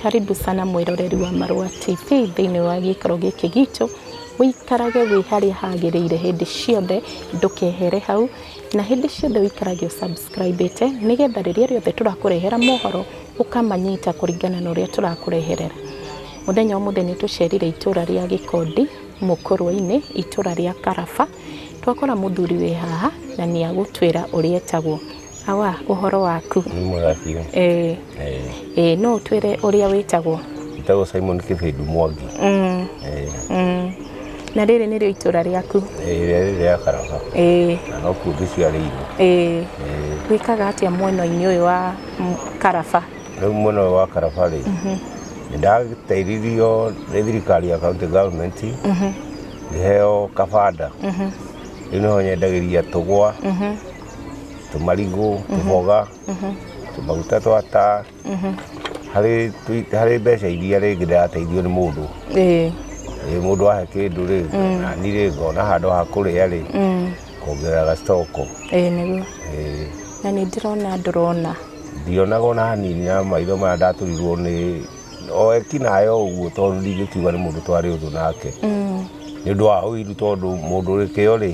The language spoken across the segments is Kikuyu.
Karibu sana mwĩroreri wa Marũa TV thĩinĩ wa gĩikaro gĩkĩ gitũ, ũikarage wĩ harĩa hagĩrĩire hĩndĩ ciothe ndũkehere hau, na hĩndĩ ciothe ũikarage ũ subscribe ĩte nĩgetha rĩrĩa rĩothe tũrakũrehera mohoro ũkamanyita kũringana na ũrĩa tũrakũrehere. Mũthenya ũmũthĩ nĩ tũcerire itũra rĩa Gĩkondi Mũkũrwe-inĩ, itũra rĩa Karaba, twakora mũthuri wĩ haha na nĩ agũtwĩra ũrĩa etagwo. Awa, ũhoro waku? Nĩ mwega biũ. Ĩĩ. Ĩĩ no ũtwĩre ũrĩa wĩtagwo? Njĩtagwo Simon Kĩbĩndũ Mwangi. Mm. Ĩĩ. Mm. Na rĩrĩ nĩrĩo itũra rĩaku? Ĩĩ rĩrĩa rĩrĩ rĩa Karaba. Ĩĩ. Na no kuo ngĩciarĩirwo. Ĩĩ. Gwĩkaga atĩa mwena-inĩ ũyũ wa Karaba? Rĩu mwena ũyũ wa Karaba rĩ, nĩ ndateithirio nĩ thirikari ya county government ngĩheo kabanda. Rĩu nĩho nyendagĩria tũgwa. tũmarigũ tũboga tũmaguta twa taa harĩ tũ- harĩ mbeca iria rĩngĩ ndĩrateithio nĩ mũndũ ĩĩ Ĩ, mũndũ ahe kĩndũ rĩ nani rĩ ngona handũ ha kũrĩa rĩ kuongerera gacitoko ĩĩ nĩguo Ĩ, na nĩ ndĩrona ndũrona ndionaga ona hanini na maitho maya ndatũrirwo nĩ o ekinayo ũguo tondũ ndingĩkiuga nĩ mũndũ twarĩ ũthũ nake nĩ ũndũ wa ũiru tondũ mũndũ ũrĩ kĩo rĩ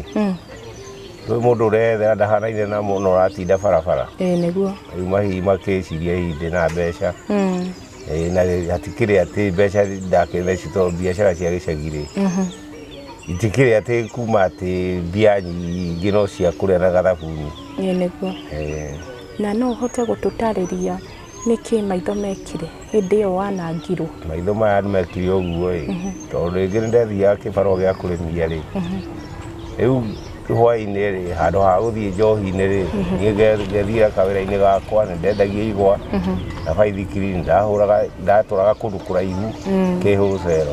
Rĩu mũndũ ũreyethera ndahanaine na mũndũ ũratinda barabara. Ĩĩ nĩguo. Rĩu mahihi makĩciria hihi ndĩ na mbeca. Mm. Ĩĩ na hatikĩrĩ atĩ mbeca ndakĩtheci tondũ biacara cia gĩcagi-rĩ mhm. itikĩrĩ atĩ kuma atĩ mbia nyingĩ no cia kũrĩa na gathabuni. Ĩĩ nĩguo. Na no ũhote gũtũtarĩria Nĩkĩ maitho mekire hĩndĩ ĩyo wanangirwo? Maitho maya mekire ũguo ĩ, tondũ rĩngĩ nĩ ndathiaga kĩbarũa gĩa kũrĩmia rĩ, rĩu hwaĩ-inĩ rĩ, handũ ha gũthiĩ njohi-inĩ rĩ, niĩ ngethiĩra kawĩra-inĩ gakwa, nĩ ndendagia igwa na baithikiri, nĩ ndatũraga kũndũ kũraihu kĩhũcero.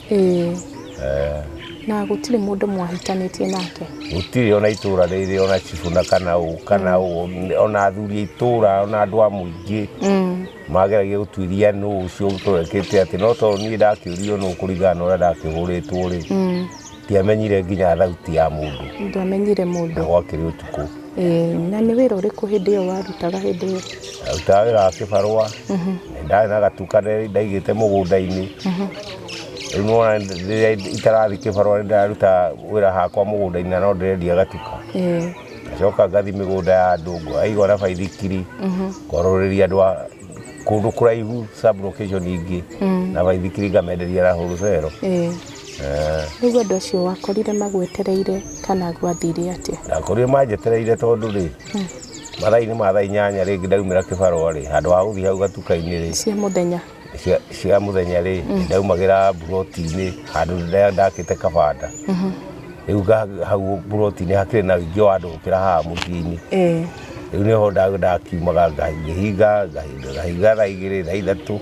Ĩĩ. Eh. Na gũtirĩ mũndũ mwahĩtanĩtie nake. Gũtirĩ ona itũra rĩrĩ ona chibu na kana ũ kana ũ ona athuri itũra ona andũ a mũingĩ mm. mageragia gũtuĩria nũ ũcio ũtũrekĩte atĩ no tondũ niĩ ndakĩũrio nũ kũringana na ũrĩa ndakĩhũrĩtwo rĩ mm. ndiamenyire nginya thauti ya mũndũ ndamenyire mũndũ na gwakĩrĩ ũtukũ Ĩĩ, na nĩ wĩra ũrĩkũ hĩndĩ ĩyo warutaga hĩndĩ ĩyo? Ndarutaga wĩra wa kĩbarũa, ndarĩ na gatu kanene ndaigĩte mũgũnda-inĩ. Rĩu nĩ wona rĩrĩa itarathiĩ kĩbarũa nĩ ndĩrarutaga wĩra hakwa mũgũnda-inĩ na no ndĩrendia gatuka. Ĩĩ. Ngacoka ngathiĩ mĩgũnda ya andũ ngaigua na baithikiri, ngorũrĩria andũ a kũndũ kũraihu sub location ingĩ na baithikiri ngamenderia na wholesale. Ĩĩ. Rĩu andũ acio wakorire magwetereire kana gwathire atĩa? Ndakorire manjetereire tondũ rĩ, mathaa-inĩ ma thaa inyanya rĩngĩ ndaumĩra kĩbarũa rĩ, handũ ha gũthiĩ hau gatuka-inĩ rĩ, Cia mũthenya. cia- cia mũthenya rĩ, ndaumagĩra mburoti-inĩ handũ ndĩa- ndakĩte kabanda. Rĩu nga- hau mburoti-inĩ hakĩrĩ na ũingĩ wa andũ gũkĩra haha mũciĩ-inĩ. Eh, Rĩu nĩho nda- ndakiumaga nga- ngĩhinga, ngahinga, ngahinga thaa igĩrĩ, thaa ithatũ.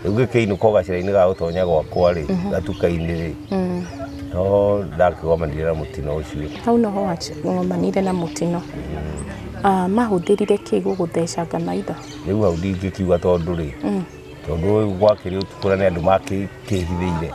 rĩu gĩkĩinũka ko gacĩra-inĩ ga gũtonya gwakwa-rĩ mhm. gatuka-inĩ-rĩ mm. no ndakĩgomanire na mũtino ũcio hau noho wagomanire na mũtino mm. ah, mahũthĩrire kĩ gũgũthecanga maitho rĩu hau ndingĩkiuga tondũ-rĩ mm. tondũ gwakĩrĩ ũtukũra nĩ andũ makĩhithĩire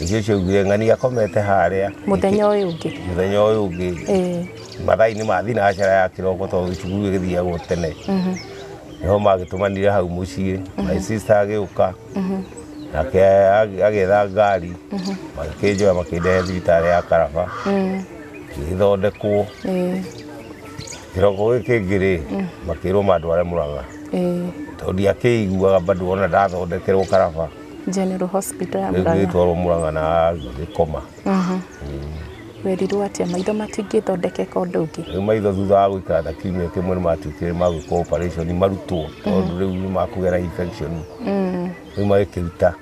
Icio icio augire ng'ania akomete harĩa. Mũthenya ũyũ ũngĩ. Mũthenya ũyũ ũngĩ. Eh. Mathaa-inĩ ma thinacera ya kĩroko tondũ cukuru ĩgĩthiagwo tene. Mhm. Nĩho magĩtũmanire hau mũciĩ. Mhm. My sister agĩũka. Mhm. Nake agĩetha ngari. Mhm. Magĩkĩnjoya makĩndehe thibitarĩ ya Karaba. Mm. Ngĩgĩthondekwo. Eh. Kĩroko gĩkĩ kĩngĩ rĩ, mm. makĩrwo mandware Mũrang'a. Eh. Tondũ ndiakĩiguaga bado ona ndathondekerwo Karaba. General Hospital ya Murang'a. Ngĩtwarwo Murang'a na gĩkoma. Mhm. Werirwo atĩa maitho matingĩthondekeka ũndũ ũngĩ? Rĩu maitho thutha wa gũikara ta kiumia kĩmwe nĩ matuĩkire ma gwĩkwo operation marutwo tondũ rĩu nĩ makũgera infection. Mm. Rĩu magĩkĩruta.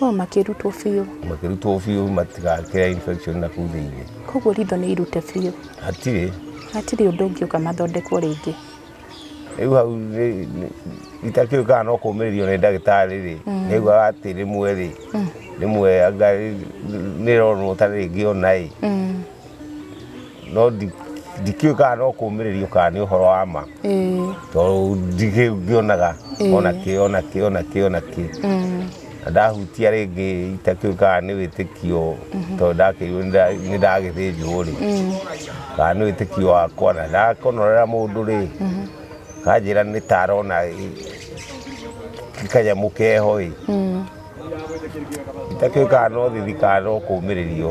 O makĩrutwo biũ. Makĩrutwo biũ matigakĩra infection na kuu thĩinĩ. Koguo ritho nĩ irute biũ. Hatirĩ. Hatirĩ ũndũ ũngĩũka mathondekwo rĩngĩ. rĩu hau nĩ- nĩ- itakĩũĩ kana no kũmĩrĩrio nĩ ndagĩtarĩ rĩ nĩaiguaga atĩ rĩmwe rĩ rĩmwe anga nĩronwo ta rĩngĩ ona ĩ Mm. no ndi- ndikĩũĩ kana no kũmĩrĩrio kana nĩ ũhoro wa ma Ĩĩ. tondũ ndikĩngĩonaga Ĩĩ. ona kĩ ona kĩ ona kĩ ona kĩ Mm. Na ndahutia rĩngĩ itatuĩkaga nĩ wĩtĩkio tondũ ndakĩirwo nĩ ndagĩthĩnjwo rĩ kana nĩ wĩtĩkio wakwa na ndakũnorera mũndũ rĩ kanjĩra nĩ ta arona kanyamũ keho ĩ itatuĩkaga no thithi kana no kũmĩrĩrio.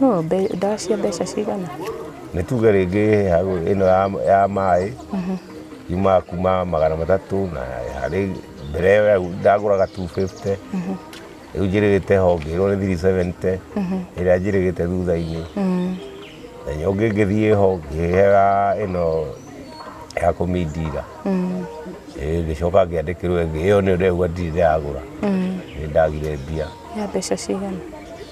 No, mbe- ndawa cia mbeca cigana? nĩ tuge rĩngĩ ya- ĩno ya- ya maĩ yumaga kuma magana matatũ na harĩ mbere ĩyo ya- ndagũraga 250 rĩu njĩrĩgĩte ho ngĩrwo nĩ 370 ĩrĩa njĩrĩgĩte thutha-inĩ na nyo ũngĩ ngĩthiĩ ho ngĩhega ĩno ya kũmindira Ĩ, ngĩcoka ngĩandĩkĩrwo ĩngĩ ĩyo nĩyo ndĩrauga ndirĩ ndagũra nĩ ndagire mbia Ya mbeca cigana?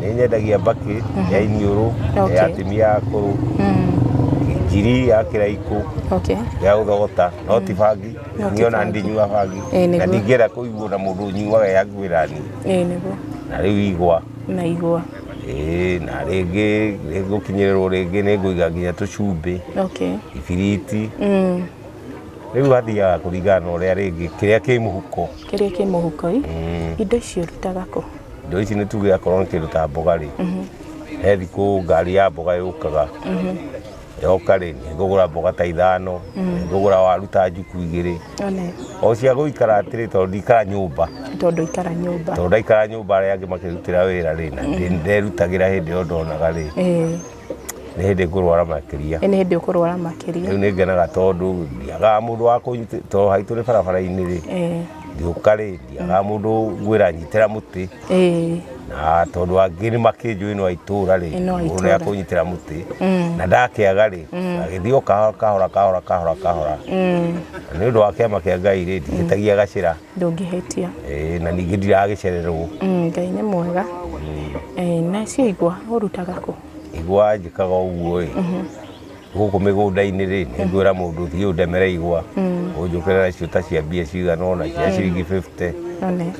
nĩ nyendagia mbakĩ ya iniũrũ Okay. ya atumia akũrũ njiri ya kĩraikũ okay ya gũthogota no ti bangi No ti niona bangi. ndinyua bangi Ĩĩ, nĩguo. na ndingĩenda kũiguo na mũndũ ũnyuaga ya ngwĩra niĩ ĩĩ nĩguo na rĩu igwa na igwa Ĩĩ, na rĩngĩ rĩngũkinyĩrĩrwo rĩngĩ nĩ ngũiga nginya tũcumbĩ okay ibiriti mm. Rĩu athiaga kũringana na ũrĩa rĩngĩ kĩrĩa kĩ mũhuko. Kĩrĩa kĩ mũhuko ĩ. Mm. Indo icio rutaga kũ? Indo ici nĩ tuge akorwo nĩ kĩndũ ta mboga rĩ. Mhm. He thikũ ngari ya mboga yũkaga. Mhm. Yoka rĩ, nĩ ngũgũra mboga ta ithano, mhm. nĩ ngũgũra waru ta njuku igĩrĩ. O cia gũikara atĩrĩ tondũ ndikara nyũmba. Tondũ ikara nyũmba. Tondũ ndaikara nyũmba arĩa angĩ makĩrutĩra wĩra rĩ, na ndĩrutagĩra hĩndĩ ĩyo ndonaga rĩ. nĩ hĩndĩ ngũrwara makĩria nĩ hĩndĩ ũkũrwara makĩria rĩu nĩ ngenaga tondũ ndiagaga mũndũ wa tondũ haitũ nĩ barabara-inĩ rĩ ngĩũka rĩ ndiagaga mũndũ ngwĩra nyitĩra mũtĩ na tondũ angĩ nĩ makĩnjũĩ no aitũra rĩ mũndũ nĩ akũnyitĩra mũtĩ mm. na ndakĩaga rĩ mm. agĩthiĩ o kahora kahora kahora kahora kahora mm. nĩ ũndũ wa kĩama kĩa ngai rĩ ndihĩtagia gacĩra ndũngĩhĩtia Eh, na ningĩ ndiragĩcererwo Mm, ngai nĩ mwega Eh, na cio igwa ũrutaga kũ igwa njĩkaga ũguo ĩ gũkũ mĩgũnda-inĩ rĩ nĩ ngwĩra mũndũ thiĩ ũndemere igwa ũnjũkĩra nacio ta cia mbia cigana ona cia ciringi 50 none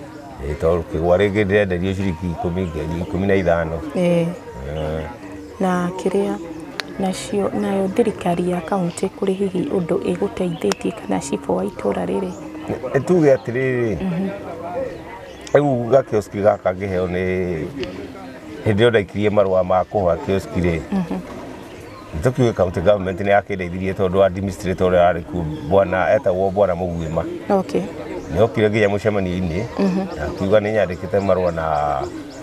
Eh, tondũ kĩgwa rĩngĩ ndĩrenderio ciringi ikũmi ngiri ikũmi na ithano Eh, Eh, Na kĩrĩa, nacio, nayo thirikari ya kauntĩ kũrĩ hihi ũndũ ĩgũteithĩtie kana cibũ wa itũra rĩrĩ? Tuge atĩrĩrĩ, rĩu ga kioski gaka ngĩheo nĩ, hĩndĩ ĩrĩa ndaikirie marũa ma kũhoya kioski rĩ, nĩ tũkiũĩ county government nĩ yakĩndeithirie tondũ administrator ũrĩa warĩ kuo bwana, etagwo bwana Mũguĩma, Okay. nĩ okire nginya mũcemanio-inĩ, na akiuga nĩ nyandĩkĩte marũa na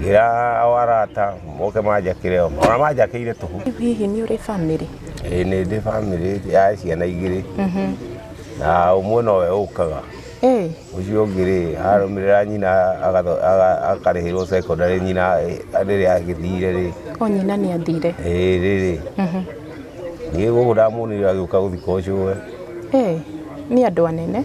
ngira o arata moke manjakire o ona manjakĩire tũhu Rĩu hihi nĩ ũrĩ bamĩrĩ ĩĩ nĩ ndĩ bamĩrĩ ya ciana igĩrĩ na ũmwe nowe ũkaga Ĩĩ, ũcio ũngĩ rĩ arũmĩrĩra nyina agatho- aga- akarĩhĩrwo secondary nyina eh, rĩrĩa agĩthire rĩ o nyina nĩ athire ĩĩ rĩrĩ niĩ gũkũ ndamuonire agĩũka gũthika ũcũwe Ĩĩ, nĩ andũ anene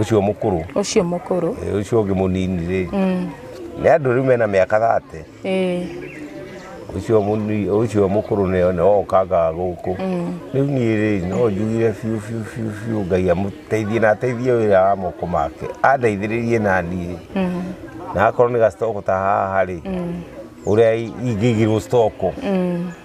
ucio mukuru ucio mukuru eh, ucio ngi munini ri mm. ni andu riu mena miaka 30 eh ucio muni ucio mukuru ni one okanga guku mm. riu ni ri no njugire fiu fiu fiu fiu ngai amuteithie na ateithie wira wa moko make andeithiririe na ni mm. na akorwo ni gastoko ta haha ri uria ingigirwo stoko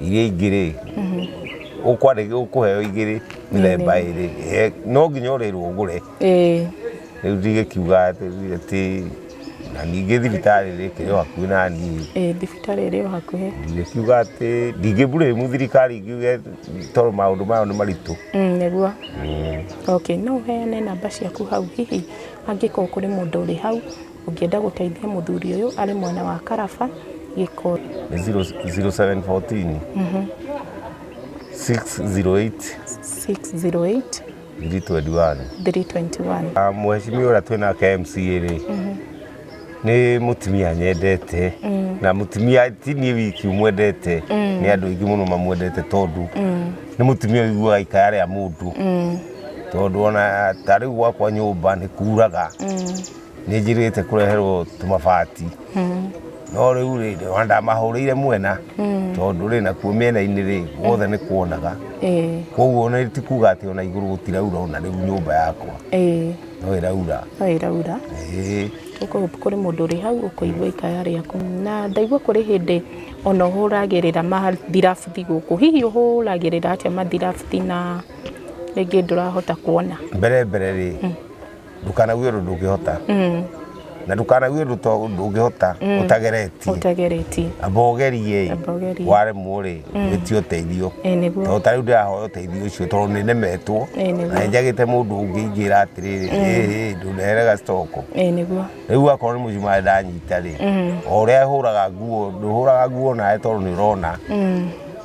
iria ingĩ rĩ ũkwandĩka ũkũheo igĩrĩ mĩthemba ĩrĩ Eh, no nginya ũrĩrwo ũgũre ĩĩ rĩu ndigĩkiuga atĩ atĩ- na ningĩ thibitarĩ rĩ kĩrĩ o hakuhĩ na niĩ ĩĩ thibitarĩ ĩrĩ o hakuhĩ ndigĩkiuga atĩ ndingĩburĩmu thirikari ingiuge tondũ maũndũ mayo nĩ maritũ Mm, nĩguo okay no ũheane namba ciaku hau hihi angĩkorwo kũrĩ mũndũ ũrĩ hau Ũngĩenda gũteithia mũthuri ũyũ arĩ mwena wa Karaba Gĩkũyũ. 0714 608 608 321 321. Ah, Mheshimiwa ũrĩa twĩ nake MCA rĩ nĩ mũtumia nyendete na mũtumia ti niĩ wiki mwendete nĩ andũ aingĩ mũno mamwendete tondũ nĩ mũtumia ũiguaga ikaya rĩa mũndũ tondũ ona ta rĩu gwakwa nyũmba nĩ kuraga nä njä te kå reherwo tå mabati no rä u rä ona ndamahå rä ire mwena tondå rä nakuo mä ena-inä rä guothe nä kuonaga ĩĩ koguo ona ti kuga atä ona igå rå gå tiraura ona rä u nyå mba yakwa ĩĩ no ä raura no ĩraura Ĩĩ. Kũ- kũrĩ mũndũ ũrĩ hau ũkũigua ikaya rĩaku na ndaigua kũrĩ hĩndĩ ona ũhũragĩrĩra mathirabuti gũkũ hihi ũhũragĩrĩra atĩa mathirabuti na rĩngĩ ndũrahota kuona mbere mbere rä ndukanague ũndũ ndũngĩhota mm. na ndukanague ũndũ ndũngĩhota mm. ũtageretie amba ũgerie waremwo rĩ mm. wĩtie ũteithio tondũ ta rĩu ndĩrahoya ũteithio ũcio tondũ nĩ nemetwo na njagĩte mũndũ ũngĩ ingĩra atĩrĩrĩ ndũneherega stoko rĩu akorwo nĩ mũcumarĩ ndanyita rĩ o ũrĩa hũraga nguo ndũhũraga nguo nawe tondũ nĩ ũrona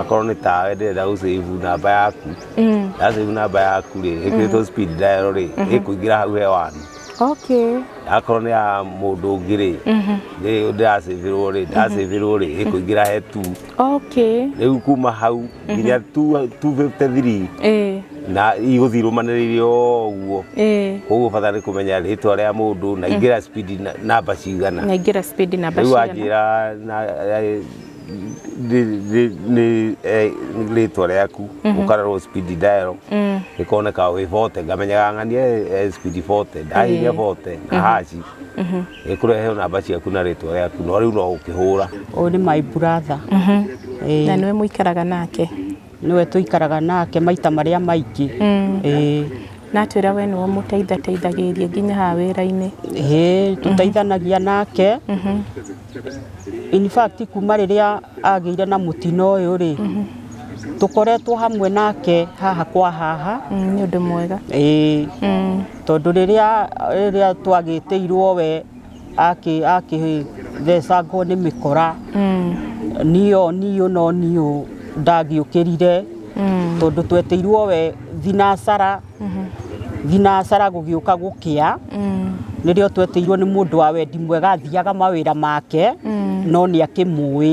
akorwo nĩ tawe ndĩrenda gũcĩvu namba yaku ndacĩvu namba yaku rĩ ĩkĩrĩtwo speed dial rĩ ĩkũingĩra hau hewani okay akorwo nĩ ya mũndũ ũngĩ rĩ rĩ ndĩracĩvĩrwo rĩ ndacĩvĩrwo rĩ ĩkũingĩra he tu okay rĩu kuma hau nginya tu- 253 eh na igũthiĩ irũmanĩrĩire o ũguo eh koguo bata nĩ kũmenya rĩtwa rĩa mũndũ na ingĩra speed na- namba cigana naingĩra speed namba rĩu cigana wanjĩra na- nĩ- nĩ- nĩ- eh, nĩ rĩtwa rĩaku ũkarorwo speed dial ĩkoneka wĩ bote ngamenyaga ng'ani eh, eh, speed bote ndahinya bote na haci ĩkũrehe namba ciaku na rĩtwa rĩaku no rĩu no ũkĩhũra ũyũ nĩ my brother na nĩwe mũikaraga nake Nĩwe tũikaraga nake maita marĩa maingĩ. Ĩĩ. Na atwĩra we nĩwe ũmũteithateithagĩrĩria nginya haha wĩra-inĩ. Ĩĩ tũteithanagia nake. In fact kuma rĩrĩa agĩire na mũtino ũyũ rĩ, tũkoretwo hamwe nake haha kwa haha. Nĩ ũndũ mwega. Ĩĩ. Tondũ rĩrĩa twagĩtĩirwo we... akĩ akĩthecangwo nĩ mĩkora niũ niũ no niũ ndangĩũkĩrire tondũ tweteirwo we thinacara thinacara gũgĩũka gũkĩa nĩrĩo tweteirwo nĩ mũndũ wa wendi mwega athiaga mawĩra make no nĩ akĩmũĩ.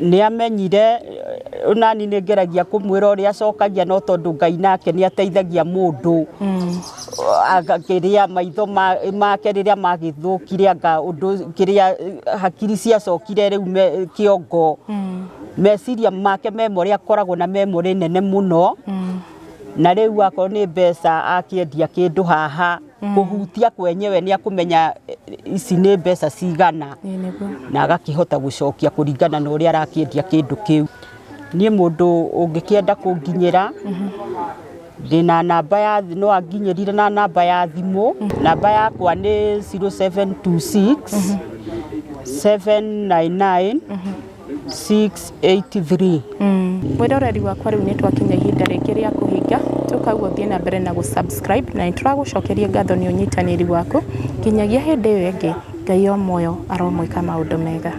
Nĩ amenyire nani nĩ ngeragia kũmwĩra ũrĩa acokagia no tondũ Ngai nake nĩ ateithagia mũndũ kĩrĩa maitho make rĩrĩa magĩthũkire anga ũndũ kĩrĩa hakiri ciacokire rĩu kĩongo meciria make memory akoragwo na memory nene mũno na rĩu akorwo nĩ mbeca akĩendia kĩndũ haha kũhutia kwenyewe nä akåmenya ici nä mbeca cigana Ĩĩ nĩguo. na agakĩhota gũcokia kũringana na ũrĩa arakĩendia kĩndũ kĩu niĩ mũndũ ũngĩkĩenda kũnginyĩra ndĩ na namba ya thimũ no anginyĩrire na namba ya thimũ namba yakwa nĩ 0726 799 683 mwĩroreri wakwa rĩu nĩ twakinya ihinda rĩngĩ rĩa kũhinga tũkaguo thiĩ na mbere na gũsubscribe na nĩ tũragũcokeria ngatho nĩ ũnyitanĩri waku nginyagia hĩndĩ ĩyo ĩngĩ ngai o muoyo aromwĩka maũndũ mega